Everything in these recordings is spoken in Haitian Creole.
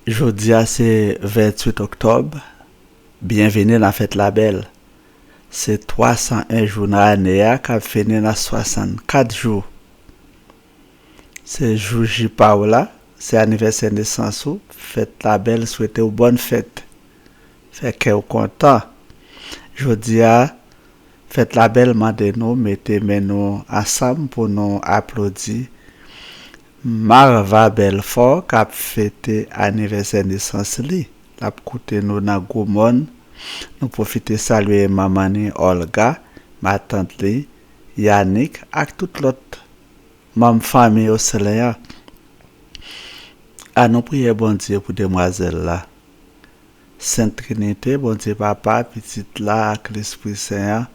Jodia se 28 oktòb, byenvini nan fèt la bèl. Se 301 jou nan ane a k ap fini nan 64 jou. Se jou J pa w la, se anivèsè nesans ou, fèt la bèl swete w bòn fèt. Fè kè w kontan. Jodia fèt la bèl mande nou mete men nou ansanm pou nou aplodi Marva Belfort kap fete anivèsè nesans li lap koute nou nan gwo mòn nou pwofite salye manman ni Olga matant li Yanick ak tout lòt manm fanmi Ocelen an a nou priyè Bondye pou demwazèl la. Sent Trinite, Bondye Papa, Pitit la ak Lespri Sen an,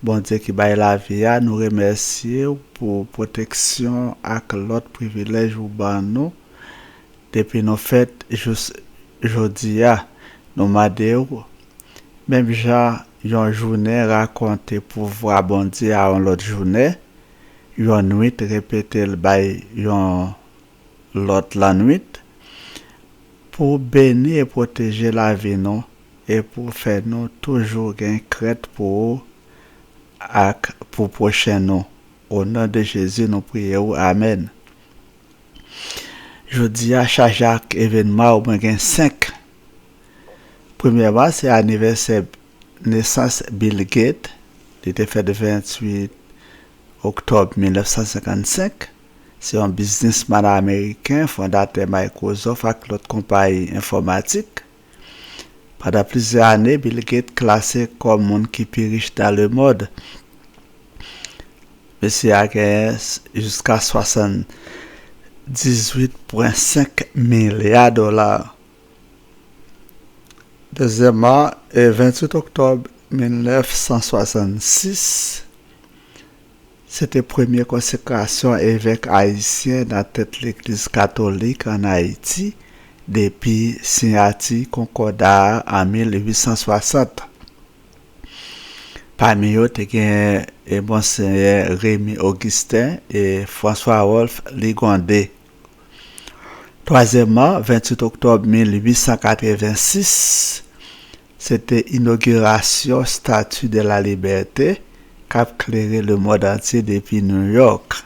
Bondye ki bay lavi a, nou remèsye ou pou pwoteksyon ak lòt privilèj ou ban nou depi nou fèt jous jodi a. Nou mande ou, menm jan yon jounen rakonte pouvwa Bondye a yon lòt jounen, yon nwit repete l bay yon. lòt lannwit, pou beni e pwoteje lavi nou e pou fè nou toujou gen krent pou ou ak pou pwochen nou. O non de Jezi nou priye ou, amèn. Jodi a chaje ak evenman ou mwen gen 5. Premyèman se anivèsè nesans Bill Gates, li te fèt 28 oktòb 1955. se yon biznisman ameriken, fondatè Microsoft ak lòt konpayi enfòmatik. Pandan plizyè ane, Bill Gates klase kòm moun ki pi rich nan lemond. Mesye a genyen jiska 78,5 milya dola. Dezyèmman, 28 oktòb 1966, Se te premye konsekrasyon evèk ayisyen nan tèt Legliz katolik ann Ayiti depi siyati konkòda a an 1860. Pami yo te genyen Monseyè Remy Augustin e François Rolph Ligonde. Twazyèmman, 28 oktòb 1886, Se te inogirasyon Statue de la Liberté k ap klere lemond antye depi New York.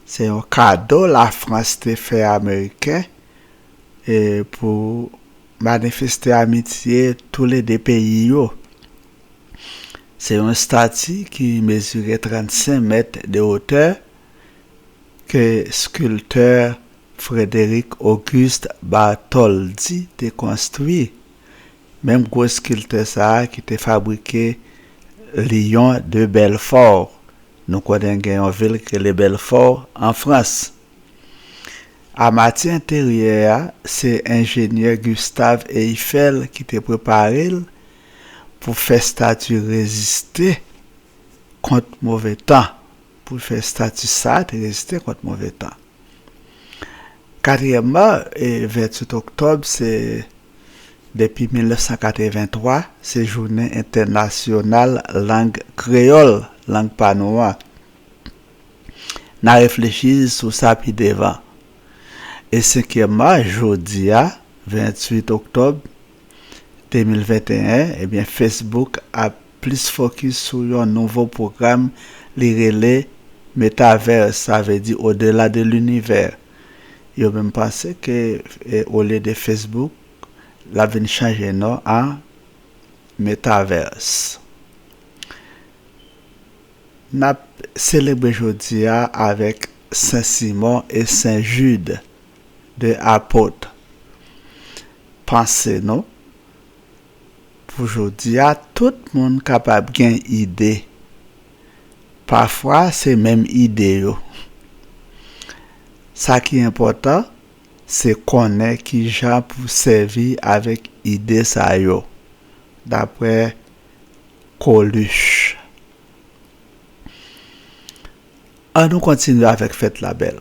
Se yon kado Lafrans te fè Ameriken pou manifeste amitye toule de peyi yo. Se yon stati ki mezire 35 mèt de otè ke skiltè Frederic Auguste Bartholdi te konstwi, menm gwo skiltè sa a ki te fabrike Lion de Belfort, nou konnen gen yon vil ki rele Belfort an Frans. Amati enteryè a se enjenyè Gustave Eiffel ki te prepare l pou fè stati reziste kont move tan. pou l fè stati sa te reziste kont move tan. Katriyèmman, 28 oktòb se, depi 1983, se jounen entènasyonal lang kreyòl, lang pa nou an. N a reflechi sou sa pi devan. E senkyèmman, jodi a, 28 oktòb 2021, ebyen Facebook ap plis fokis sou yon nouvo pwogram li rele Metaverse, sa vle di au-delà de l'univers. Yo menm panse ke olye de Facebook, l ap vin chanje non a Metaverse. N ap selebre jodi a avèk Sen Simon e Sen Jid, 2 apot panse nou. Pou jodi a, tout moun kapab gen ide. Pafwa se menm ide yo. Sa ki enpòtan, se konnen ki jan pou sèvi avèk ide sa yo, daprè Coluche. An nou kontinye avèk fèt la bèl.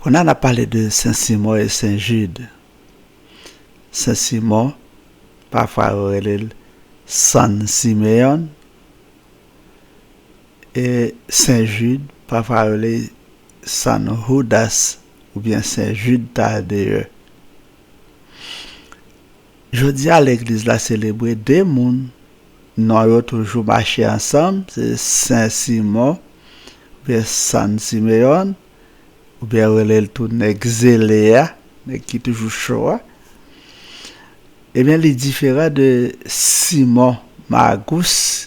Kounye a n ap pale de Sen Simon e Sen Jid. Sen Simon, pafwa yo rele l Sann Simeyon, e Sen Jid, pafwa yo rele l Sann Houdas oubyen Sen Jid Tadeye. Jodi a legliz la selebre 2 moun non yo toujou mache ansanm se Sen Simon oubyen San Simeon oubyen yo rele l tou nèg zele a, nèg ki toujou cho a. Ebyen li diferan de Simon Magous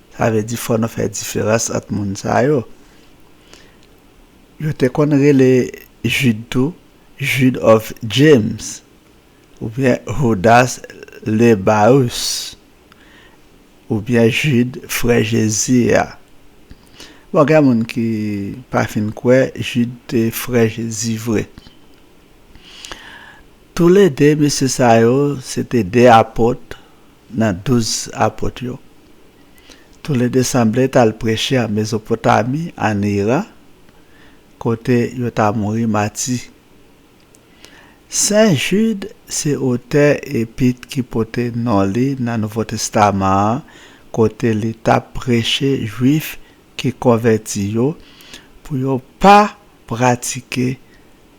Sa vle di fò nou fè diferans ant moun sa yo. Yo te konn rele Jid tou Jude of James oubyen Houdas Lebaus oubyen Jid frè Jezi a. Bon gen moun ki pa fin kwè Jid te frè Jezi vre. Toulede mesye sa yo se te de apot nan Douz Apot yo. Toule de sanble t al preche an Mezopotami, ann Iran, kote yo ta mouri mati. Sen Jid se otè epit ki pote non li nan Nouvo Testaman an kote li t ap preche Juif ki konvèti yo pou yo pa pratike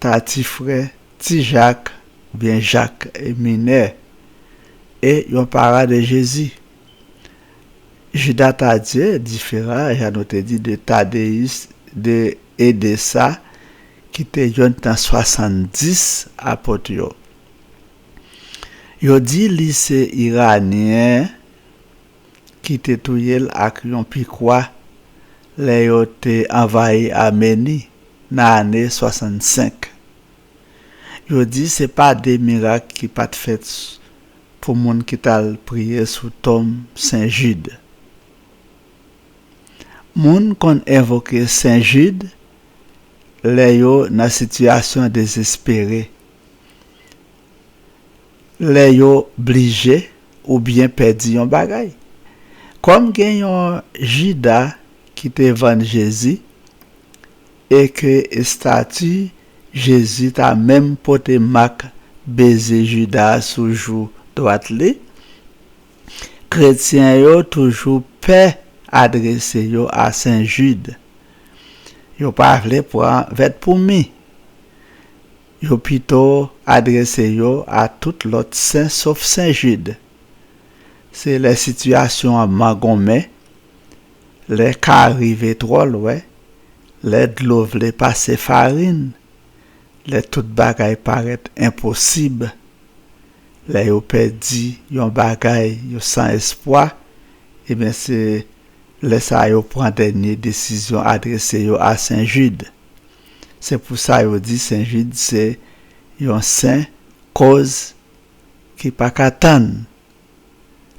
ta ti frè ti Jak oubyen Jak Minè e yon para de Jezi. Jida Tadye difera, jan nou te di, de Tadeyis de e de sa ki te yonn tan swasanndis apot yo. Yo di li se Iranyen ki te touye l ak yon pikwa lè yo te anvayi Ameni. nan ane 65. Yo di se pa de mirak ki pa t fèt pou moun ki t al priye sou tonm Sen Jid. Moun konn envoke Sen Jid lè yo nan sitiyasyon dezespere. lè yo blije oubyen pèdi yon bagay. Kòm gen yon Jida ki te vann Jezi e ke estati Jezi ta menm pote mak beze Jida a sou jou dwat li, kretyen yo toujou pè adrese yo a Sen Jid. Yo pa vle pran vèt pou mi. Yo pito adrese yo a tout lòt Sen sof Sen Jid. Se lè sitiyasyon an mangonmen, lè ka rive twò lwen, lè dlo vle pase farin, lè tout bagay parèt enposib, lè yo pèdi yon bagay, yo san espwa, ebyen se lè sa yo pran dènye desizyon adrese yo a Sen Jid. Se pou sa yo di Sen Jid se yon sen koz ki pa ka tann,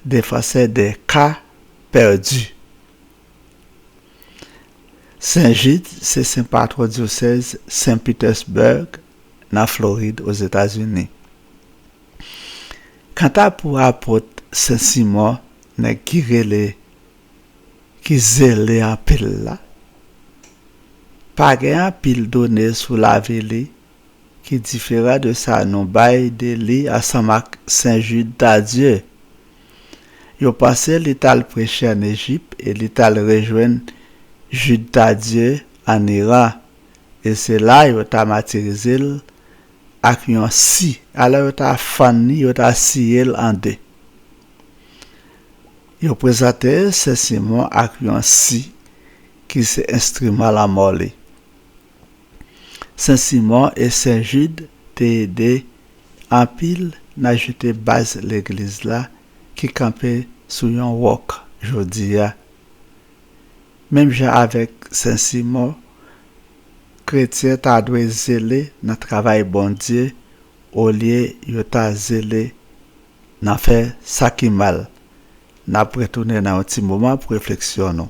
defansè de ka pèdi. Sen Jid se sen patwon dyosèz Sen Petersburg nan Florid Ozetazini. Kanta pou Apot Sen Simon nèg ki rele ki zele anpil la pa gen anpil done sou lavi li ki diferan de sa nou bay de li ansanm ak Sen Jid Tadye. Yo panse li t al preche ann Ejip e li t al rejwenn Jid Tadye ann Iran e se la yo ta matirize l ak yon si, alò yo ta fann li, yo ta siye l an de. Yon prezatè se Simon ak yon si ki se enstriman lanmò li. Sen Simon e Sen Jid te ede anpil nan ajoute baz Legliz la ki kanpe sou yon wòk jodi a. Menm jan avèk Sen Simon, kretyen ta dwe zele nan travay Bondye olye yo ta zele Nan fè sa ki mal. N ap retounen nan yon ti moman pou refleksyon nou.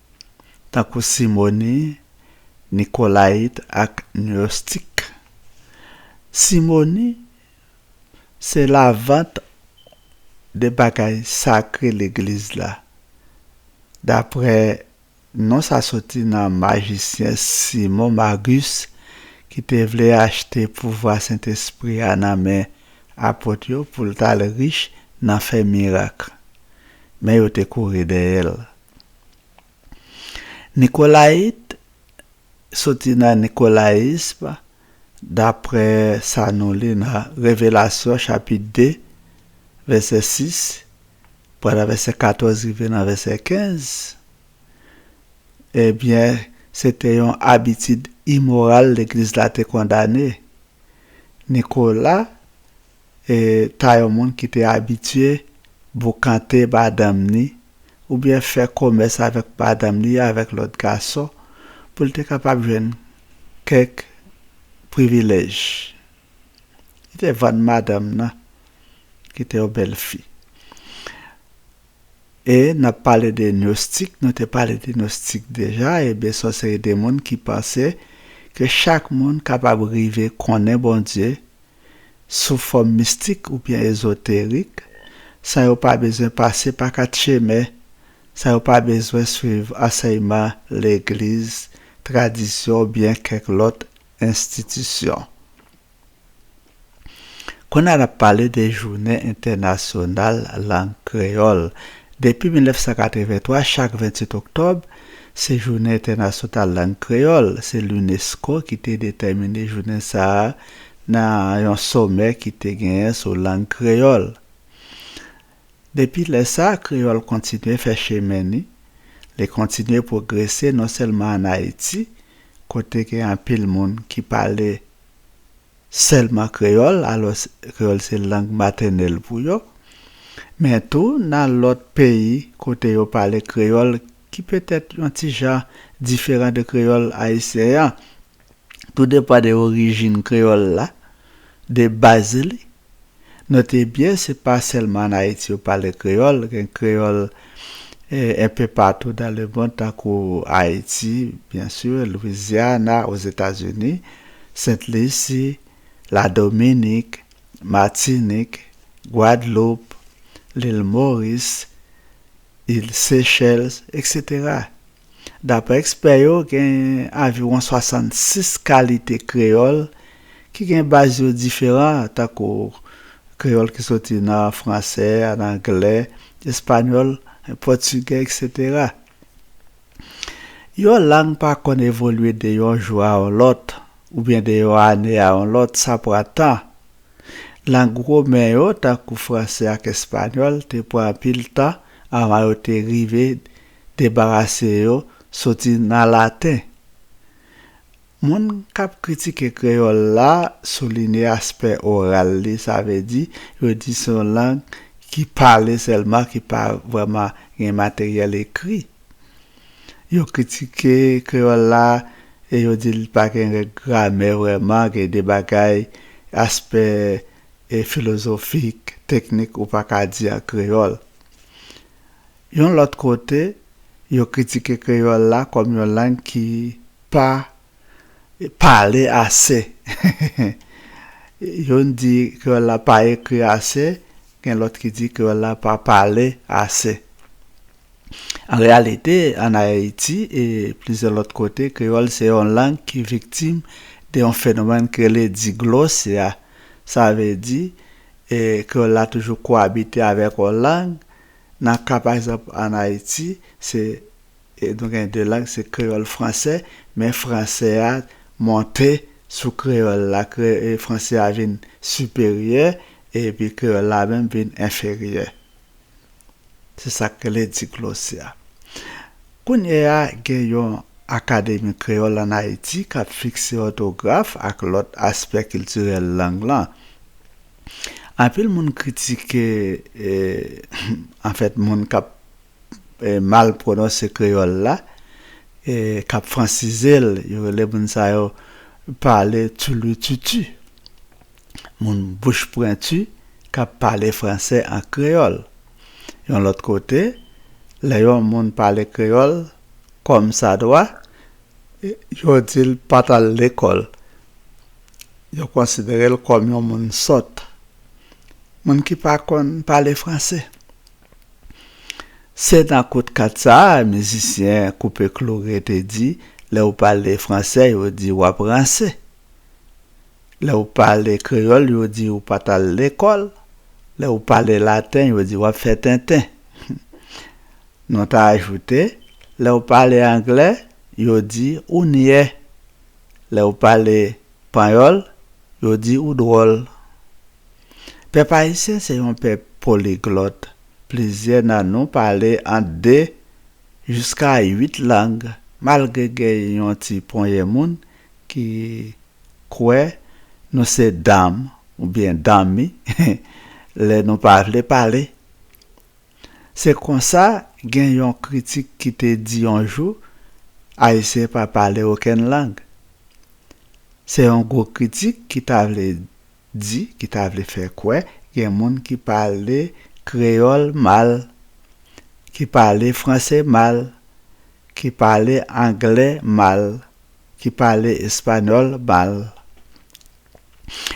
tankou simoni, nikolayit ak nostik. Simoni se lavant de bagay sakre legliz la, daprè non sa soti nan majisyen Simon Magus ki te vle achte pouvwa Sentespri a nan men apot yo pou l t al rich nan fè mirak. Men yo te kouri dèyè l. Nikolayit soti nan nikolayism, dapre sa nou li nan Revelasyon chapit 2, vèsè 6, pran nan vèsè 14 rive nan vèsè 15. Ebyen, se te yon abitid imoral Legliz la te kondane. Nikola. ta yon moun ki te abitye boukante madanm ni oubyen fè komès avèk madanm ni avèk lòt gason pou l te kapab jwenn kèk privilèj. Li te vann madanm nan ki te yon bèl fi. E n ap pale de nostik, nou te pale de nostik deja, ebyen se yon seri de moun ki panse ke chak moun kapab rive konnen Bondye sou fòm mistik oubyen ezoterik, san yo pa bezwen pase pa kat chemen, san yo pa bezwen swiv ansèyman legliz, tradisyon oubyen kèk lòt enstitisyon. Kounye a n ap pale de jounen entènasyonal lang kreyòl. Depi 1983, chak 28 oktòb, se jounen entènasyonal lang kreyòl. Se Lunesko ki te detèmine jounen sa a. nan yon somè ki te genyen sou lang kreyòl. Depi lè sa a, kreyòl kontinye fè chemen ni, li kontinye pwogrese non sèlman ann Ayiti, kote gen anpil moun ki pale sèlman kreyòl, alòs kreyòl se lang matènèl pou yo, men tou nan lòt peyi kote yo pale kreyòl ki petèt yon ti jan diferan de kreyòl ayisyen an. tou depan de orijin kreyòl la, de baz li. Note byen se pa sèlman an Ayiti yo pale kreyòl, gen kreyòl enpe patou dan le mond tankou Ayiti, byen si, Lwizyana, Ozetazini, Sent Lisi, Ladominik, Matinik, Gwadloup, Lil Moris, Il Seychelles, eksetera. Daprè ekspè yo, gen anviwon 66 kalite kreyòl ki gen baz yo diferan, tankou kreyòl ki soti nan franse, nan angle, espanyòl, pòtigè, eksetera. Yon lang pa konn evolye de yon jou a yon lòt, oubyen de yon ane a yon lòt, sa pran tan. Lang women yo, tankou franse ak espanyòl, te pran anpil tan anvan yo te rive Debarase yo soti nan laten. Moun k ap kritike kreyòl la soulinye aspè oral li, sa vle di, yo di se yon lang ki pale sèlman, ki pa vrèman gen materyèl ekri. Yo kritike kreyòl la e yo di li pa gen règ gramè vrèman, gen de bagay, aspè filozofik, teknik ou pa ka di an kreyòl. Yon lòt kote, yo kritike kreyòl la kòm yon lang ki pa pale ase. Youn di kreyòl la pa ekri ase, gen lòt ki di kreyòl la pa pale ase. An reyalite, ann Ayiti e plizyè lòt kote, kreyòl se yon lang ki viktim de yon fenomèn ki rele diglosya. Sa vle di, kreyòl la toujou kowabite avèk yon lang. Nan ka pa egzanp an Ayiti, se nou gen 2 lang, se kreyòl, fransè, men fransè a monte sou kreyòl la, fransè a vin siperyè epi kreyòl la menm vin enferyè. Se sa k rele diglossi a. Kounye a gen yon Akademi Kreyòl an Ayiti k ap fikse òtograf ak lòt aspè kiltirèl lang lan. Anpil moun kritike anfèt moun k ap mal pwononse kreyòl la, k ap fransize l, yo rele moun sa yo pale tulututu, moun bouch pwentu k ap pale franse an kreyòl. Yon lòt kote, lè yon moun pale kreyòl kòmsadwa, yo di l pa t al lekòl. Yo konsidere l kòm yon moun sòt, moun ki pa konn pale franse. Se nan kout kat sa a mizisyen Koupe Kloure te di, Lè ou pale franse yo di w ap ranse. Lè ou pale kreyòl yo di ou pa t al lekòl. Lè ou pale laten yo di w ap fè tenten. Nou ta ajoute, Lè ou pale angle yo di ou nyè. Lè ou pale Panyòl, yo di ou dwòl. Pèp ayisyen se yon pèp poliglòt, plizyè nan nou pale ant 2 jiska 8 lang malgre gen yon ti ponyen moun ki kwè nou se dam oubyen dammi lè nou pa vle pale Se konsa gen yon kritik ki te di yon jou, Ayisyen pa pale okenn lang. Se yon gwo kritik ki ta vle di, ki ta vle fè kwè gen moun ki pale kreyòl mal, ki pale franse mal, ki pale angle mal, ki pale espanyòl mal.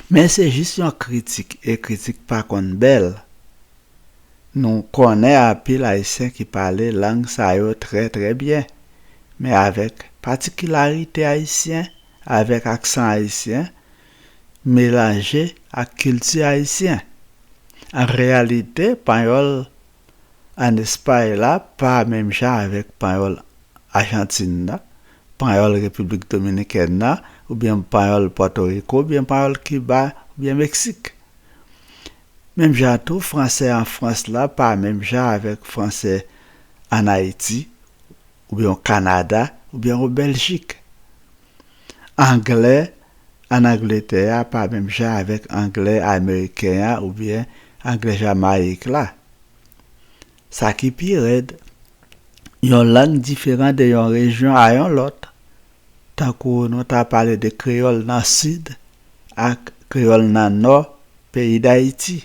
Men se jis yon kritik e kritik pa konn bèl. Nou konnen anpil Ayisyen ki pale lang sa yo trè trè byen, men avèk patikilarite ayisyen, avèk aksan ayisyen, melanje ak kilti ayisyen. An reyalite, panyòl ann Espay la pa menm jan avèk panyòl Ajantin nan, panyòl Repiblik Dominikèn nan, oubyen panyòl Pòtoriko, oubyen panyòl Kiba, oubyen Meksik. Menm jan an tou, franse an Frans la pa menm jan avèk franse ann Ayiti oubyen o Kanada oubyen o Bèljik. Angle ann Angletè a pa menm jan avèk angle ameriken an oubyen angle Jamayik la. Sa ki pi rèd, yon lang diferan de yon rejyon a yon lòt. Tankou nou ta pale de kreyòl nan Sid ak kreyòl nan Nò peyi Dayiti.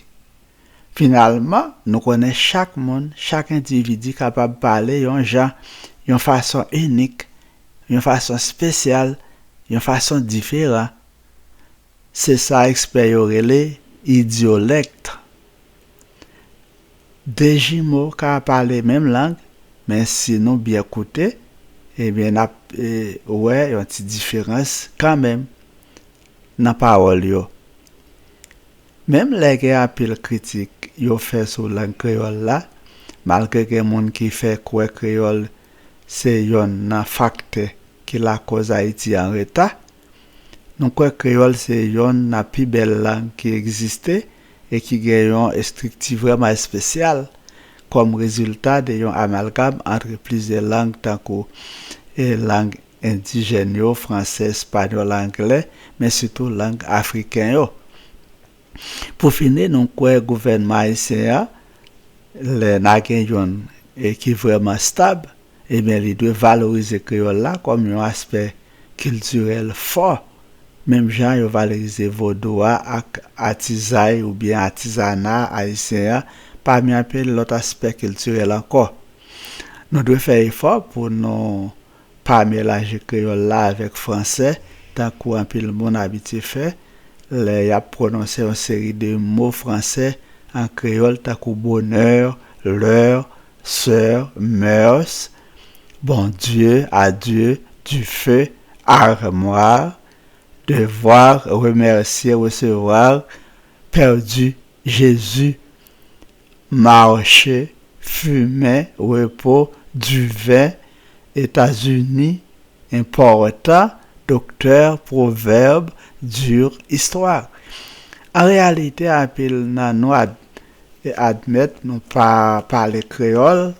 Finalman, nou konnen chak moun, chak endividi kapab pale yon jan, yon fason inik, yon fason spesyal, yon fason diferan. Se sa ekspè yo rele idyolèkt. De jimo ka pale menm lang men si nou byen koute ebyen nap wè yon ti diferans kanmenm nan pawòl yo. Menm lè gen anpil kritik yo fè sou lang kreyòl la, malgre gen moun ki fè kwè kreyòl se yonn nan faktè ki lakòz Ayiti anreta, Nou kwè kreyòl se yonn nan pi bèl lang ki egziste e ki gen yon estrikti vrèman espesyal kòm rezilta de yon amalgam antre plizyè lang tankou lang endijèn yo, fransè, espanyòl, anglè, men sitou lang afriken yo. Pou fini nou kwè gouvènman ayisyen an lè na gen youn ki vrèman stab ebyen li dwe valorize kreyòl la kòm yon aspè kiltirèl fò menm jan yo valorize vodou a ak atizay oubyen atizana ayisyen an pami anpil lòt aspè kiltirèl ankò. Nou dwe fè efò pou nou Pa melanje kreyòl la avèk fransè tankou anpil moun abitye fè lè y ap pwononse yon seri de mo fransè an kreyòl tankou bonheur, l'heure, soeur, mœurs, bon Dieu, adieu, du feu, armoire, devoir, remercier, recevoir, perdu, Jésus, Marche, fumen, repo, duve, Etazini, importa, doktè, pwovèb, dur, histoire. An reyalite anpil nan nou admèt nou pa pale kreyòl,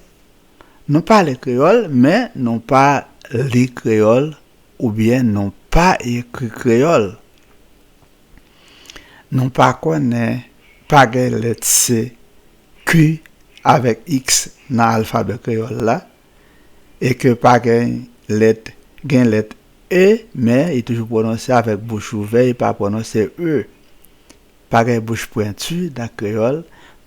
nou pale kreyòl men nou pa li kreyòl oubyen nou pa ekri kreyòl. Nou pa konnen pa gen lèt se, ki avèk iks nan alfabè kreyòl la, e ke pa gen lèt gen lèt e, men li toujou pwononse avèk bouch ouvè e pa pwononse e. Pa gen bouch pwenti nan kreyòl,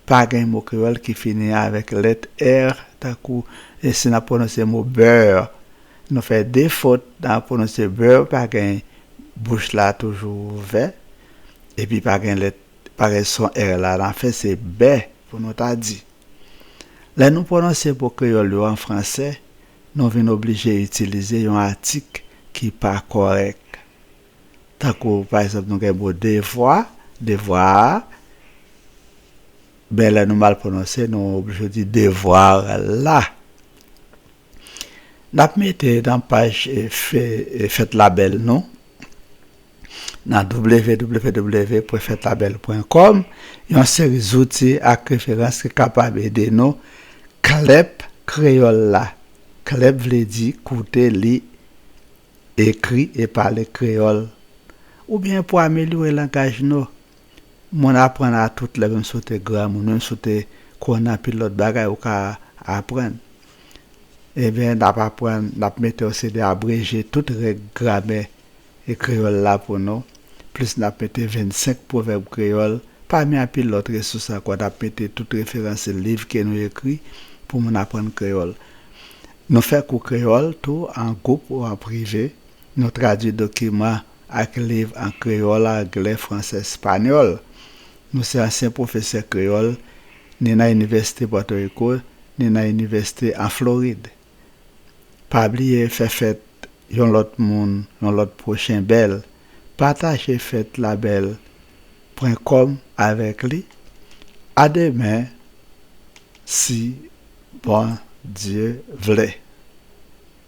pa gen mo kreyòl ki fini avèk lèt er tankou si n ap pwononse mo bèèr. Nou fè de fot nan ap pwononse beurre pa gen bouch la toujou ouvè epi pa gen lèt pa gen son r la nan fen se bè pou nou ta di. Lè nou pwononse mo kreyòl yo an fransè nou vin oblije itilize yon atik ki pa kòrèk. Tankou pa egzanp nou gen mo devwa, devoir, men lè nou mal pwononse nou oblije di devoir la. Nap mete nan paj fèt la bèl nou nan www.fetlabel.com yon seri zouti ak referans ki kapab ede nou klèp kreyòl la klèp vle di koute, li, ekri e pale kreyòl oubyen pou amelyore langaj nou Moun aprann a tout lè menm si w te granmoun, menm si w te konn anpil lòt bagay ou ka aprann. Enben, n ap aprann, n ap mete yon seri de abreje tout règ gramè kreyòl la pou nou, plis n ap mete 25 pwovèb kreyòl, pami anpil lòt resous ankò. N ap mete tout referans liv ke nou ekri pou moun aprann kreyòl. Nou fè kou kreyòl tou an gwoup ou an prive. Nou tradui dokiman ak liv an kreyòl, angle, franse, espanyòl. Nou se ansyen pwofesè kreyòl ni nan inivèsite Pòtoriko, ni nan inivèsite an Florid. Pa bliye fè fèt yon lòt moun, yon lòt pwochen bèl, pataje fèt la bèl pwen kòm avèk li, a demen si Bondye vle.